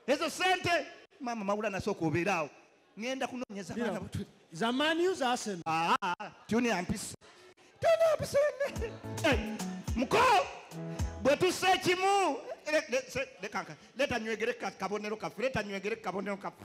ezo sente mama mawula nasooka obeeraawo ngenda kunonyeza baana butuli zamani uza arsenal aa ah, ah, ah. tuni ampisa tuni ampisa eh, muko bwe tusse kimu leta nywegere kabonero kafe leta nywegere kabonero kafe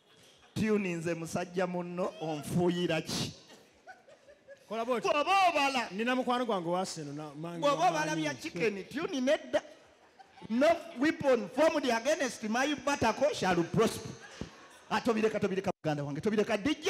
tuninze musajja munno onfuuyira ki bwoba obala nina mukwano gwange wasenobwoba obala bya chicken tuni nedda no weapon formed against my batako shall prosper atobireka ah, tobireka muganda wange tobireka dj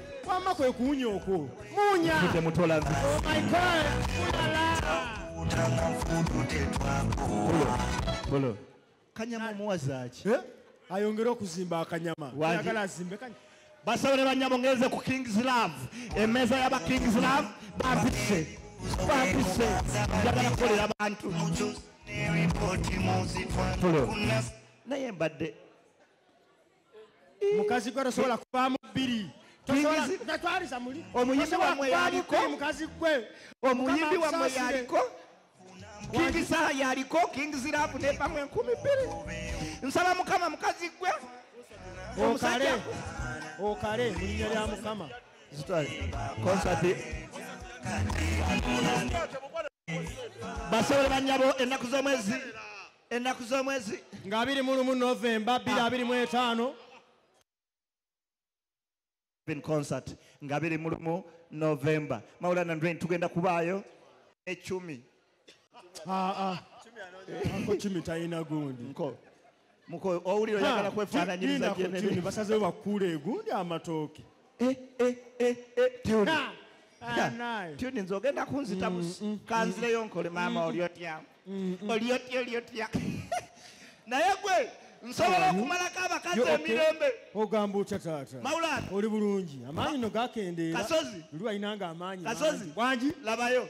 wamma kwe kuwunya okwo muwunya temutolazi oh my god mulala utanga mfudu tetwakuwa bolo kanyama omuwazaaki eh? ayongere okuzimba akanyama agala azimbe kanyama basaba ne banyabo ngeze ku kings love emeza yaba kings love babise babise njagala kukolera abantu naye mbadde mukazi gwe tosobola kuvaamu bbiri twaliza muli omuyimbi wamwe yaliko mukazi gwe omuyimbi wamwe yaliko kingi saha yaliko kingi zirabu nevamu enkumi bbiri nsaba mukama mukazi gwe okale okale mu linnya lya mukama konsati basobola banyabo ennaku z'omwezi ennaku z'omwezi nga abiri mu lumu novemba bbiri ah. abiri mu etaano concert nga biri mu lumu novemba mawula nandren tugenda kubaayo ecumi ah, ah. ako cumi talina gundi muko owulira oyagala kwefaananyiriza basazewo bakuula egundi amatooke Eh, eh, eh, eh, Tuli. Ka. Ah, naye. Tuli nze ogenda kunzita busi. mm, Kanzireyo nkole maama oli otya. Oli otya oli otya. Naye gwe nsobola okumalako abakazi Yo, okay. emirembe. ogamba otya taata Mawulana. oli bulungi amaanyi no gakendeera Kasozi. luli walinanga amaanyi Kasozi. mangi. wangi Labayo.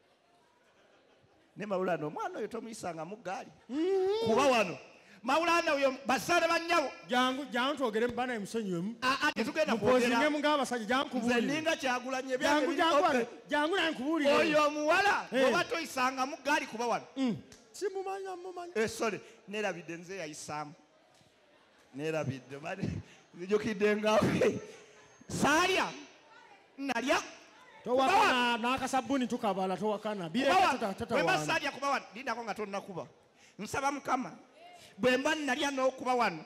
ne mawulana omwana oyo tomuyisanga mu ggaali mm-hmm. kuba wano mawulana oyo basaale bannyabo jangu jangu twogere mubana emusonyiwemu ah, ah, tetugenda kwogeramu ng'abasajja jangu kubuulire ninga kyagulanye jangu jangu jangu naye nkubuulire oyo omuwala eh. oba toyisanga mu ggaali kuba wano mm. simumanya mumanya esole eh, nerabidde nze yayisaamu nerabidde nzijukidde ngawe saalya nalya towakana n'akasabbuni tukabala towakana bwemba saalya kuba wano lindako nga tonnakuba nsaba mukama bwemba nalya n'okuba wano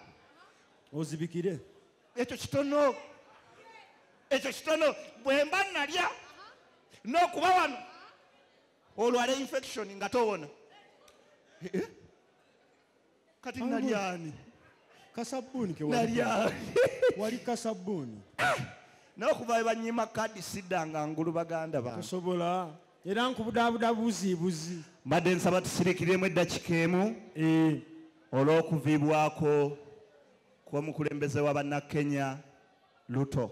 ozibikire ekyo kitono ekyo kitono bwemba nalya n'okuba wano olwala infection nga towona eh? kati nalyani kasabuni kewalyani wali kasabuni ah! nawe kuva banyima kadi sidanga ngulu baganda ba tosobola era nkubudabuda buzi buzi mbadde nsaba tusirikiremu eddakika emu eh. olw'okuviibwako kw'omukulembeze wa bannakenya luto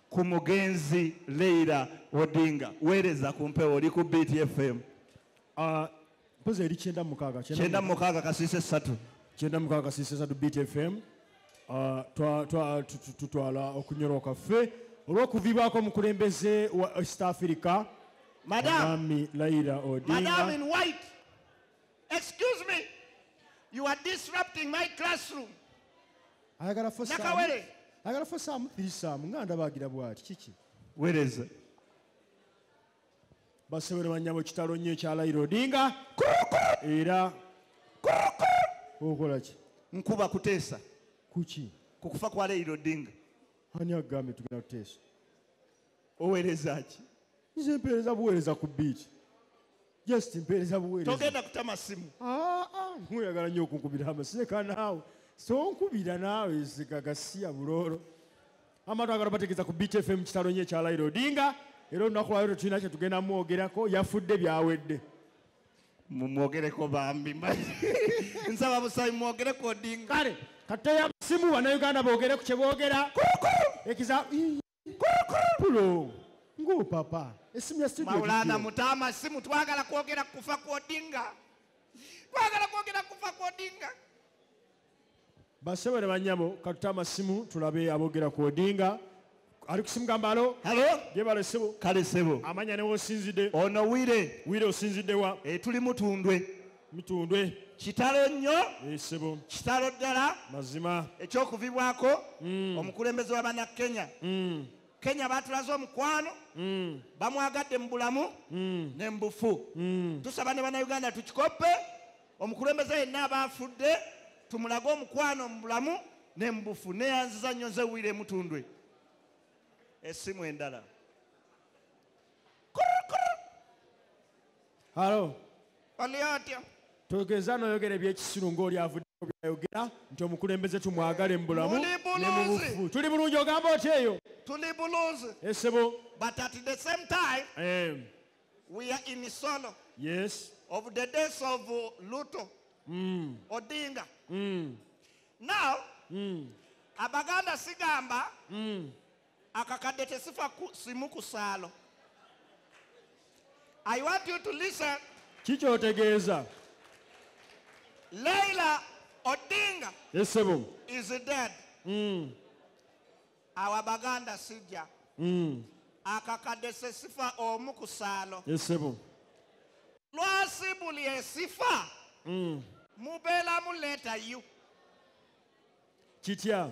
ku mugenzi leira odinga weereza ku mpewo oli ku btfm ah, mpozi eri kyenda mukaaga kyenda mukaaga kasiisa essatu kyenda mukaaga kasiisa essatu btfm ah, tutwala okunyoroka ffe olw'okuviibwako omukulembeze wa east africa madami laira odinga excuse me you are disrupting my classroom ayagala fosakawere ayagala fosaamu firisaamu nga ndabagira bwati kiki wereza basebere banyabo kitalo nnyo ekyalayira odinga era okola ki nkuba kuteesa kuki ku kufa kwa layira odinga ani agambye tugenda kuteesa oweereza ki nze mpeereza buweereza ku biiki just mpeereza buweereza togenda kutama simu ah, ah, muyagala nnyo okunkubira amasireka naawe sonkubira naawe zigagasiya buloolo amatu agala bategeeza ku beat fm kitalo nyo ekya lairo odinga era olunaku lwayo tetulina kyetugenda mwogerako yafudde byawedde mumwogereko bambi nsaba busabi mwogereko odinga kale kateyamasimu banauganda boogere ku kyeboogera ekiza pulo nguu papa esimu ya studio maulana mutama simu twagala kwogera kufa kwodinga twagala kwogera kufa kwodinga basebere banyabo katutama simu tulabe abogera kwodinga ali kusimu gamba alo halo jebale sebo kale sebo amanya ne wosinzide ono wire wire osinzide wa e tuli mutundwe mitundwe kitalo nnyo esebo eh, kitalo ddala mazima ekyokuvibwako mm. omukulembeze wa bana kenya mm. kenya batulaze omukwano mm. bamwagadde mu bulamu mm. ne mubufu mm. tusaba ne banauganda tukikoppe omukulembeze yenna abaafudde tumulage omukwano mu bulamu ne mubufu neyanziza nnyo nze wire emutundwe esimu endala halo ani atya togeza noyogera ebyekisiru ngaoli avuddeko byayogera nti omukulembeze tumwagale mubulamu tuli bulungi ogamba oti eyo tuli bulungi esebo eh, but at the same time um, we are in solo yes of the days of luto mm. odinga mm. now mm. abaganda sigamba mm. akakadde tesifa ku simu ku saalo i want you to listen kikyotegeeza leila odinga esebo is dead mm. awa baganda sijja mm. akakadde sesifa omu ku saalo esebo lwasi buli esifa mm. mubeeramu leeta you kitya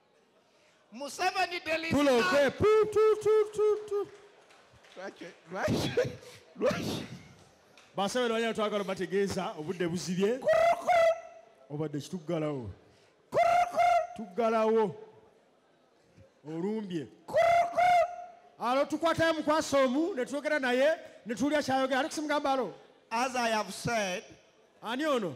Museveni delete. Tula okwe. Pu tu tu tu tu. Lwaki lwaki lwaki. Basabe lwanya twagala bategeeza obudde buzibye. Obadde kitugalawo. Tugalawo. Olumbye. Alo tukwatayo mukwasa omu ne twogera naye ne tuwulira kyayogera. Alex Mugambalo. As I have said. Ani ono?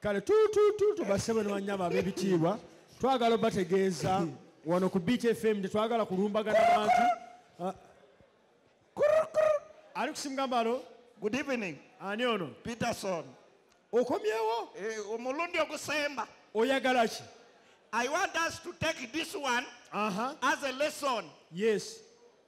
kale tutututu basebo ne banyama ab'ebitiibwa twagala obategeeza wano ku beach fm tetwagala kulumbagana bantu ah. ali kusimugambalo good evening ani ono peterson okomyewo eh, omulundi ogusemba oyagala ki i want us to take this one uh -huh. as a lesson yes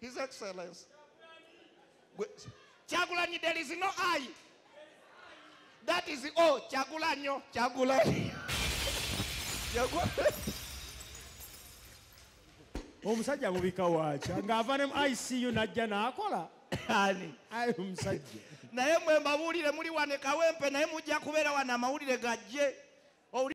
His Excellency. Chagulanyi, there is no I. That is O. Chagulanyo. Chagulanyi. omusajja mubika waakya ng'ava ne mu icu n'ajja n'akola ani ayi omusajja naye mwe mbabuulire muli wane kawempe naye mujja kubeera wano amawulire gajje